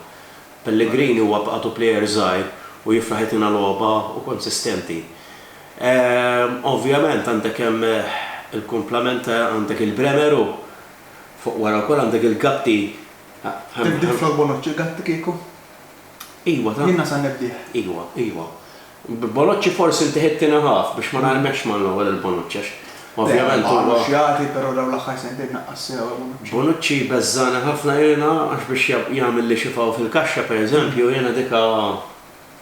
Pellegrini huwa bqatu plejer żgħir u jifraħitina logħba u konsistenti. Ehm ovvjament għandek hemm il-kumplament għandek il-Bremer u fuq wara wkoll għandek il-Gatti Tibdil flok Bonoċċi Gatti kieku? Iwa ta. Jiena sa nibdih. Iwa, iwa. B'Bonoċċi forsi inti ħidtina ħaf biex ma narmekx mal-ewwel il-Bonoċċi għax ovvjament huwa. Le, baqalu x'jagħti però dawn l-aħħar sentejn naqqas sew il-Bonoċċi. Bonoċċi jbeżżagħni ħafna jiena għax biex jagħmilli xi faw fil-kaxxa pereżempju jiena dika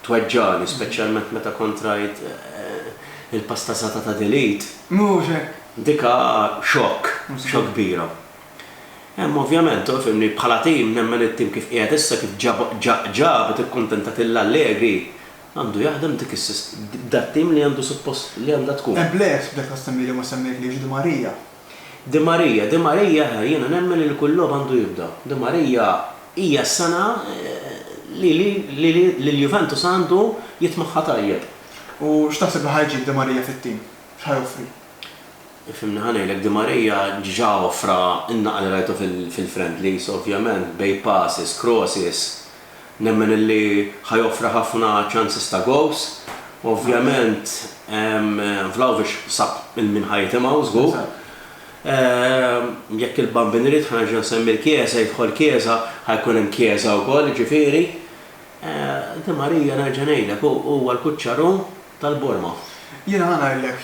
tweġġagħni speċjalment meta kont rajt il-pasta sata ta' Delete. Mhux hekk! Dika xokk, xokk kbira. Hemm ovvjament, u fimni, bħala tim nemmen it-tim kif qiegħed issa kif ġab tikkuntentat lil Allegri għandu jaħdem dik dat-tim li għandu suppost li għandha tkun. Hemm plejers f'dak l-assembly li ma semmejtlix, Di Maria. Di Maria, Di Maria eħe jiena nemmen li kull logħob għandu jibda. Di Maria hija s-sena li lil Juventus għandu jitmagħha tajjeb. U x'taħseb li ħa jġib Di Maria fit-tim? X'ħa joffri? Ifhimni ħa ngħidlek, Di Maria ġa offra n-naqal li rajtu fil-friendlies, ovvjament, bejn passes, crosses, nemmen illi ħa joffri ħafna chances ta' goals. Ovvjament, Vlahovic sab il-min ħa jitimgħu, żgur. Jekk il-Bambin irid ħa nerġa' nsemmi l-Chiesa, jidħol Chiesa, ħa jkun hemm Chiesa wkoll, jiġifieri, Di Maria nerġa' ngħidlek, hu huwa l-kuċċaru. tal-borma. Jiena ħa ngħidlek,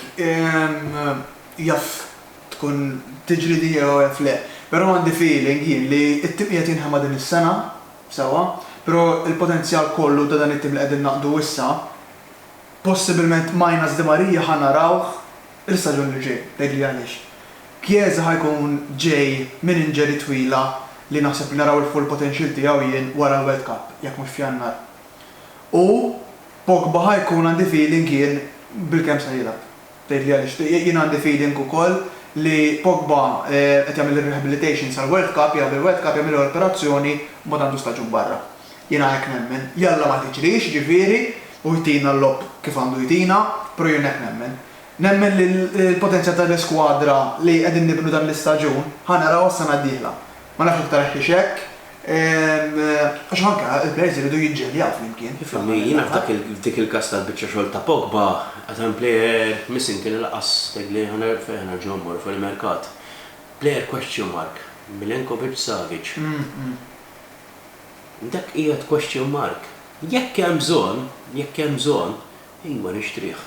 jaf tkun tiġri din jew jaf le, però għandi feeling jien li t-tim qiegħed jinħema din is-sena, sewwa, però l-potenzjal kollu ta' dan it-tim li qegħdin naqdu issa, possibilment minus Di Maria ħa narawh l-istaġun li ġej, tgħidli għaliex? Chiesa ħa jkun ġej minn injury twila li naħseb li naraw il-full potential tiegħu jien wara l-World Cup, jekk mhux f'Jannar. U Pogba ħa jkun għandi feeling jien bil-kemm sa jilgħab. Tgħidli għaliex? Jien għandi feeling ukoll li Pogba qed jagħmel ir-rehabilitation sal-World Cup, jilgħab il-World Cup, jagħmillu l-operazzjoni, mbagħad għandu staġun barra. Jiena hekk nemmen. Jalla ma tiġrix, jiġifieri, u jtina l-logħob kif għandu jtina, però jien hekk nemmen. Nemmen li l-potenzjal tal-iskwadra li qegħdin nibnu dan l-istaġun, ħa narawha s-sena d-dieħla. Ma nafx jekk tarax hiex hekk. Għax anke il-players iridu jiġġeljaw flimkien. Ifimni, jiena f'dik il-każ tal-biċċa xogħol ta' Pogba, as a player, missing kien il-qas, tgħidli fejn ħanerġgħu mmorru fuq il-merkat. Player question mark, Milenkovic, Savic. Dak qiegħed question mark. Jekk hemm bżonn, jekk hemm bżonn, ejwa nixtrih.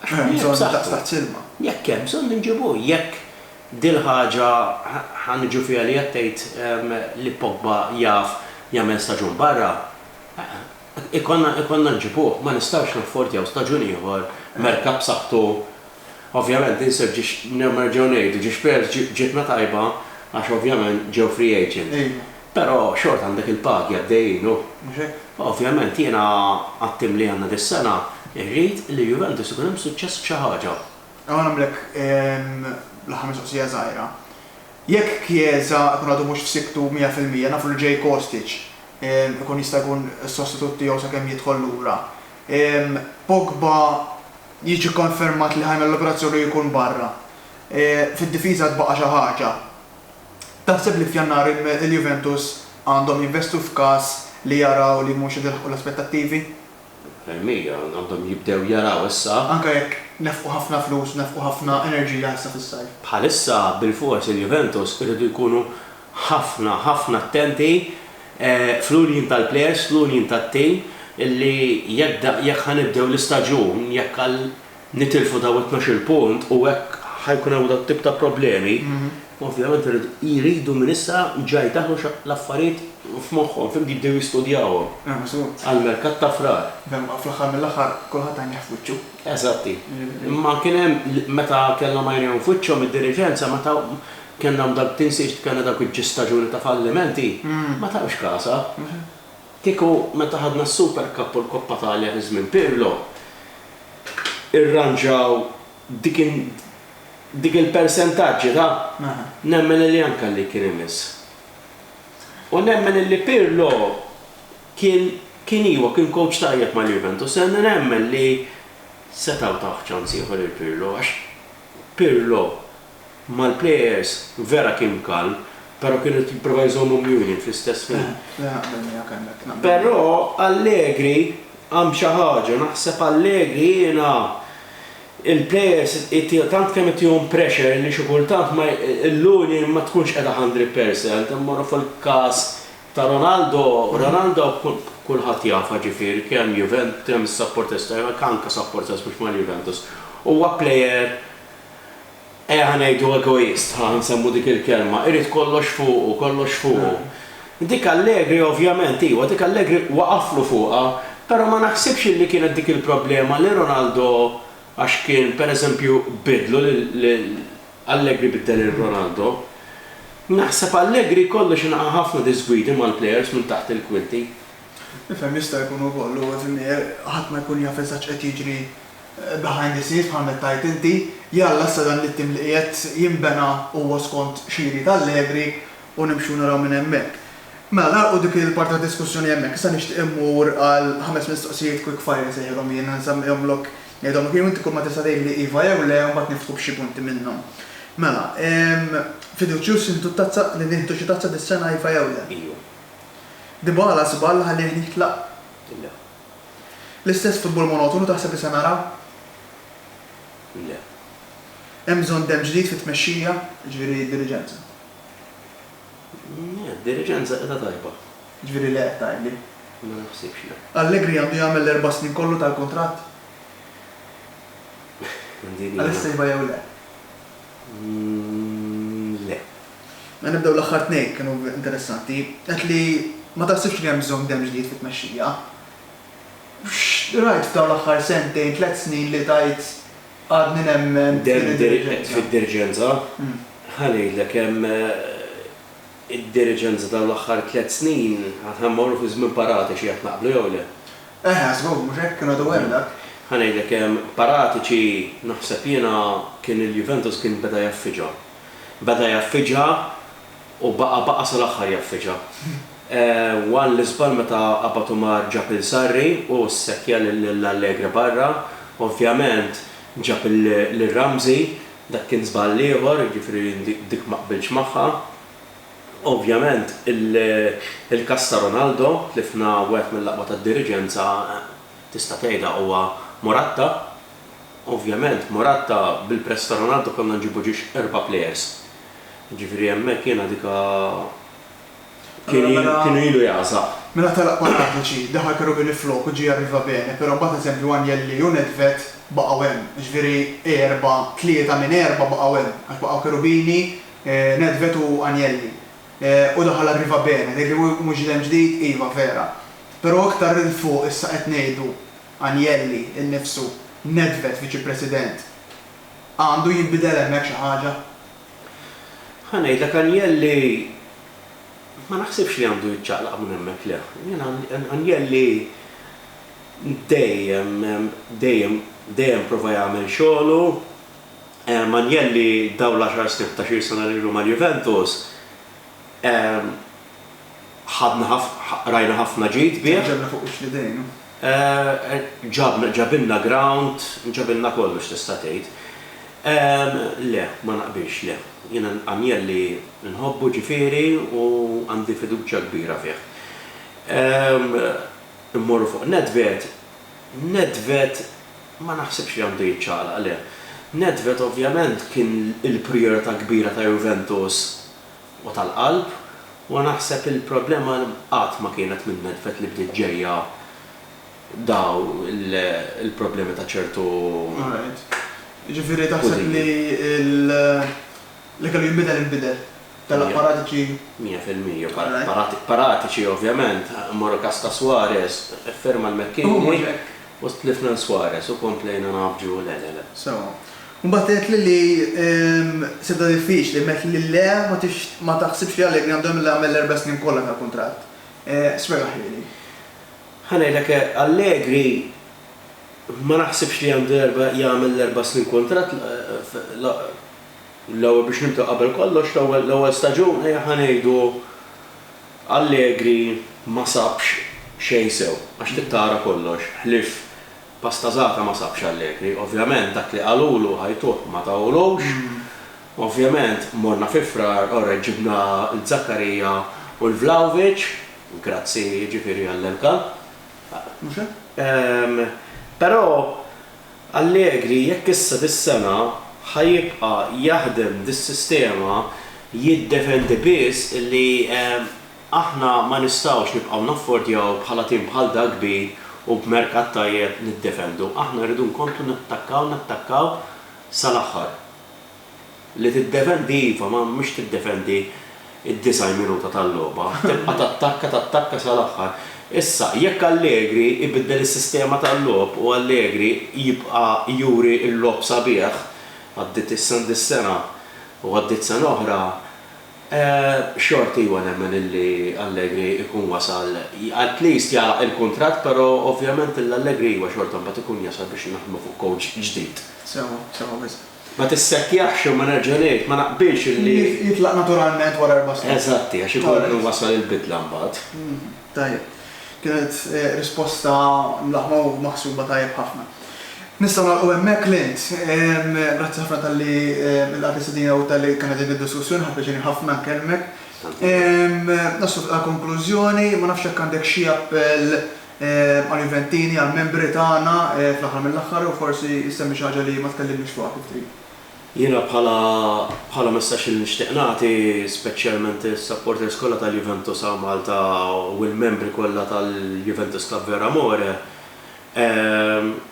Għax hemm bżonn daqstant ilma. Jekk hemm bżonn inġibu. Jekk dil-ħaġa ħa niġu fiha li qed tgħid li Pogba jaf jagħmel staġun barra, ikollna nġibuh. Ma nistgħux naffordjaw staġun ieħor, merkat b'saħħtu. Ovvjament insir ġiex, nerġgħu ngħidu, ġiex Spurs ġietna tajba għax ovvjament ġew free agent. Però xorta għandek il-pagi għaddejjin u. Mhux hekk? Ovvjament jiena għat-tim li għandna dis-sena irrid li Juventus ikun hemm suċċess f'xi ħaġa. Ejja nagħmlek l-aħħar mistoqsija żgħira. Jekk Chiesa ikun għadu mhux f'sikktu mija fil-mija, nafu li ġej Kostic ikun jista' jkun is-sostitut tiegħu sakemm jidħol lura. Pogba jiġi kkonfermat li ħa jagħmel l-operazzjoni u jkun barra. Fid-difiża tbaqa' xi ħaġa. Taħseb li f'Jannar il-Juventus għandhom jinvestu f'każ li jaraw li mhux qed ilaħħqu l-aspettattivi? Mil mija, għandhom jibdew jaraw issa. Anke jekk nefqu ħafna flus u nefqu ħafna enerġija issa fis-sajf. Bħalissa bilfors il-Juventus iridu jkunu ħafna, ħafna attenti fl-union tal-plejers, fl-union tat-tim li jekk ħa nibdew l-istaġun, jekk għal. nitilfu dawn it-tnax-il punt u hekk ħa jkun hawn dat-tip ta' problemi, ovvjament jridu minn issa ġa jdaħħlu l-affarijiet f'moħħhom, fhimtni, jibdew jistudjawhom għall-merkat ta' Frar. Fl-aħħar mill-aħħar kulħadd għajnejh f'wiċċu. Eżatt, imma kien hemm meta kellhom għajnejhom f'wiċċhom id-diriġenza meta kellna dak tinsiex kellna dawk il-ġis staġuni ta' fallimenti, ma tawx kasha. Kieku meta ħadna s-Super Cup u l-Coppa Talja fi żmien Pirlo, irranġaw dik dik il-persentaġġi ta' nemmen illi anke għalik kien imiss. U nemmen illi Pirlo kien kien iva kien kowċ tajjeb mal-Juventus imma nemmen li setgħu tawh ċans ieħor lil Pirlo għax Pirlo mal-plejers vera kien mkall, però kien irid jipprova jżommhom mjuni fl-istess ħin. Però Allegri għam xi ħaġa, naħseb Allegri jiena il-plejers tant kemm itihom pressure li xi kultant ma l-Luni ma tkunx qiegħda hundred percent, immorru fil-każ ta' Ronaldo, Ronaldo kulħadd jafha ġifieri kemm Juventus, kemm is-supporters tiegħu, jekk anke supporters mhux mal-Juventus, huwa plejer Ejja ngħidu egoist, ħa nsemmu dik il-kelma, irid kollox fuqu, kollox fuqu. Dik Allegri ovvjament, iwa, dik Allegri waqaflu fuqha, però ma naħsibx illi kienet dik il-problema li Ronaldo għax kien, per eżempju, biddlu lil Allegri biddel lil Ronaldo. Naħseb Allegri jkollu xi naqa' ħafna diżgwidi mal-plejers minn taħt il-kwinti. Nifhem jista' jkun ukoll u, ġifieri, ħadd ma jkun jaf eżatt x'qed jiġri behind the scenes bħal mettajt inti, li Alla issa dan l-ittim li qiegħed jinbena huwa skont xi jrid Allegri u nimxu naraw minn hemmhekk. Mela nagħlqu dik il-parti ta' diskussjoni hemmhekk, issa nixtieq immur għal ħames mistoqsijiet quick fire insejħilhom jien, nsemmihomlok ngħidhom u kien u inti kulma tista' tgħidli iva jew le u mbagħad niftħu b'xi punti minnhom. Mela, fiduċjuż intu t-tazza, li nieħdu xi tazza dis-sena iva jew le? Iju. Dybala żball ħallieh jitlaq? Le. L-istess futbol monotonu taħseb li se naraw? Le. Hemm bżonn demm ġdid fit-tmexxija, jiġifieri d-diriġenza. Le, d-diriġenza qiegħda tajba. Jiġifieri le qed tgħidli? Ma naħsibx, le. Allegri għandu jagħmel l-erba' snin kollu tal-kuntratt? Din hija. Għalissa iva jew le? Le. Mela nibdew l-aħħar tnejn, kienu interessanti. Għedt li ma taħsibx li hemm bżonn demm ġdid fit-tmexxija. X'rajt f'dawn l-aħħar sentejn, tliet snin li tgħid għadni nemmen f'din id-diriġenza? Fid-diriġenza? Ħa ngħidlek, hemm id-diriġenza dawn l-aħħar tliet snin, aħna mmorru fi żmien paratiċi, jaf naqblu jew le. Eħe, żgur, mhux hekk, kien għadu hemm dak. Ħa ngħidlek, paratiċi, naħseb jiena, kien il-Juventus kien beda jaffiġa. Beda jaffiġha u baqa' baqa' sal-aħħar jaffiġha. Wan l-iżball meta Abbat Umar ġab lil Sarri u ssekkja lil Allegre barra. Ovvjament ġab lil Ramsey, dak kien żball ieħor, jiġifieri dik ma qbiltx magħha. Ovvjament il-każ ta' Ronaldo, tlifna wieħed mill-aqwa tad-diriġenza, tista' tgħidha huwa Morata. Ovvjament Morata bil-press ta' Ronaldo kellna nġibu ġiex erba' players. Jiġifieri hemmhekk jiena dika kienu ilu jagħżaq. Mela telaq Paratici, daħal Cherubini flok u ġie Arriva Bene, però mbagħad eżempju Agnelli u Nedved baqgħu hemm. Jiġifieri erba', tlieta minn erba' baqgħu hemm għax baqgħu Cherubini, Nedved u Agnelli. U daħal Arriva Bene, tgħidli mhux ġidem ġdid, iva vera. Però iktar 'il fuq issa qed ngħidu. Agnelli innifsu, Nedved Viċi President, għandu jinbidel hemmhekk xi ħaġa? Ħa ngħidlek, Agnelli ma naħsibx li għandu jiċċaqlaq minn hemmhekk, le. Jiena Agnelli dejjem, dejjem, dejjem prova jagħmel xogħlu. Agnelli dawn l-għaxar snin, ħdax-il sena li ilu mal-Juventus, ħadna ħafna, rajna ħafna ġid bih. Ġabna fuq wiċċ l-idejn, hu. Ġabna, ġabilna ground, ġabilna kollox tista' tgħid. Le, ma naqbilx, le. Jiena Agnelli nħobbu ġifieri u għandi fiduċja kbira fih. Immorru fuq Nedved, Nedved ma naħsibx li għandu jiċċaqlaq, le. Nedved ovvjament kien il-prijorità kbira ta' Juventus. u tal-qalb u naħseb il-problema qatt ma kienet minn Nedved li bdiet ġejja dawn il-problemi ta' ċertu kuzini. Mija fil-mija. Paratiċi ovvjament, immorru każ ta' Suarez, iffirma l-Mecchini u tlifna l-Suarez u komplejna ngħaffġu le le le. Imbagħad għedtli li sibtha diffiċli, imma għedtli li le ma taħsibx li Allegri għandu jagħmilha jagħmel l-erba' snin kollha tal-kuntratt. Spjegaħlieli. Ħa ngħidlek hekk, Allegri ma naħsibx li għandu jagħmel l-erba' snin kuntratt, l-ewwel biex nibdew qabel kollox l-ewwel staġun ejja ħa ngħidu Allegri ma sabx xejn sew, għax trid tara kollox, ħlief Pasta zata ma sabx għall-lepri. Ovvjament dak li qalulu ħajtuh ma tawlux. Ovvjament morna fi Frar u reġġibna l-Zakkarija u l-Vlahovic, grazzi jiġifieri għall-elka. Mhux hekk? Ehm, però Allegri jekk issa dis-sena ħa jibqa' jaħdem dis-sistema jiddefendi biss li ehm, Aħna ma nistgħux nibqgħu naffordjaw bħala tim bħal dak kbir u b'merkat tajjeb niddefendu. Aħna rridu nkomplu nattakkaw, nattakkaw sal-aħħar. Li tiddefendi iva, ma mhux tiddefendi d-90 minuta tal-logħba. Tibqa' tattakka, tattakka sal-aħħar. Issa, jekk Allegri jbiddel is-sistema tal-logħob u Allegri jibqa' juri l-logħob sabiħ, għaddiet is-sena u għaddiet sena oħra, Xort iwa nemmen illi Allegri ikun wasal, at least jagħlaq il-kuntratt pero ovvjament ill Allegri iwa xorta mbagħad ikun jasal biex naħdmu fuq coach ġdid. Sewwa, sewwa wisq. Ma tissekkjaħx u ma nerġa' ngħid, ma naqbilx illi. Jitlaq naturalment wara erba' snin. Eżatti, għax ikun wasal il-bidla mbagħad. Tajjeb. Kienet risposta mlaħma u maħsuba tajjeb ħafna. Nistgħu nagħlqu hemmhekk, Clint. Grazzi ħafna talli lqajt l-istedina u talli kellna din id-diskussjoni, ħa pjaċir ħafna nkellmek. Naslu għall-konklużjoni, ma nafx jekk għandek xi appell għall-Juventini, għall-membri tagħna fl-aħħar mill-aħħar u forsi ssemmi xi ħaġa li ma tkellimniex fuqha kif trid. Jiena bħala bħala messaġġ li nixtieq nagħti speċjalment is-supporters kollha tal-Juventus hawn Malta u l-membri kollha tal-Juventus Club Ver Amore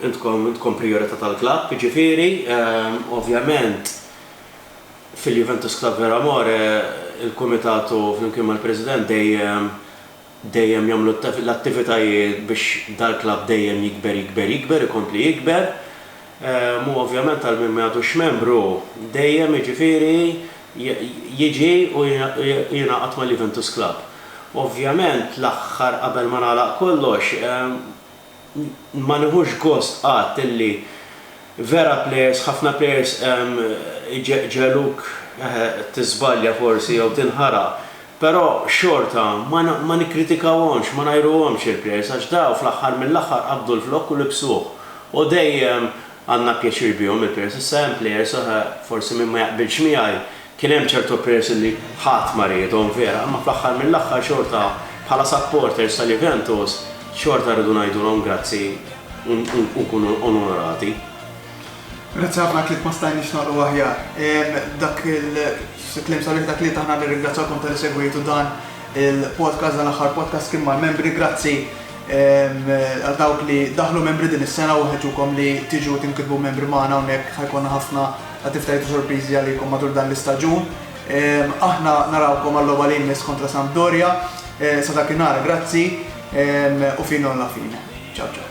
intkom intkom prijorità tal-klabb jiġifieri ovvjament fil-Juventus Club Ver Amore il-kumitatu flimkien mal-President dejjem dejjem jagħmlu l-attivitajiet biex dal-klabb dejjem jikber jikber jikber ikompli jikber u ovvjament għal min m'għadux membru dejjem jiġifieri jiġi u jingħaqad mal-Juventus Club. Ovvjament l-aħħar qabel ma nagħlaq kollox ma nieħux gost qatt illi vera plejers, ħafna plejers iġegħġeluk tiżbalja forsi jew tinħaraq, però xorta ma nikkritikawhomx, ma ngħajruhomx il-plejers għax daw fl-aħħar mill-aħħar qabdu l-flokk u libsuh u dejjem għandna pjaċir bihom il-players. Issa hemm players oħra forsi min ma jaqbilx miegħi, kien hemm ċertu players illi ħadd ma riedhom vera, imma fl-aħħar mill-aħħar xorta bħala supporters ta' Juventus xorta rridu ngħidulhom grazzi u nkunu onorati. Grazzi ħafna kif ma stajniex nagħlqu aħjar. Dak il-kliem sabiħ ta' tlieta aħna nirringrazzjakom tal-li segwejtu dan il-podcast dan l-aħħar podcast kien mal-membri. Grazzi Għal dawk li daħlu membri din is-sena u nħeġġukom li tiġu tinkitbu membri magħna hawnhekk ħa jkollna ħafna attivitajiet u sorpriżi għalikom matul dan l-istaġun. Aħna narawkom għal-logħba li jmiss kontra Sampdoria. Sa dakinhar grazzi u fino alla fine. Ciao ciao.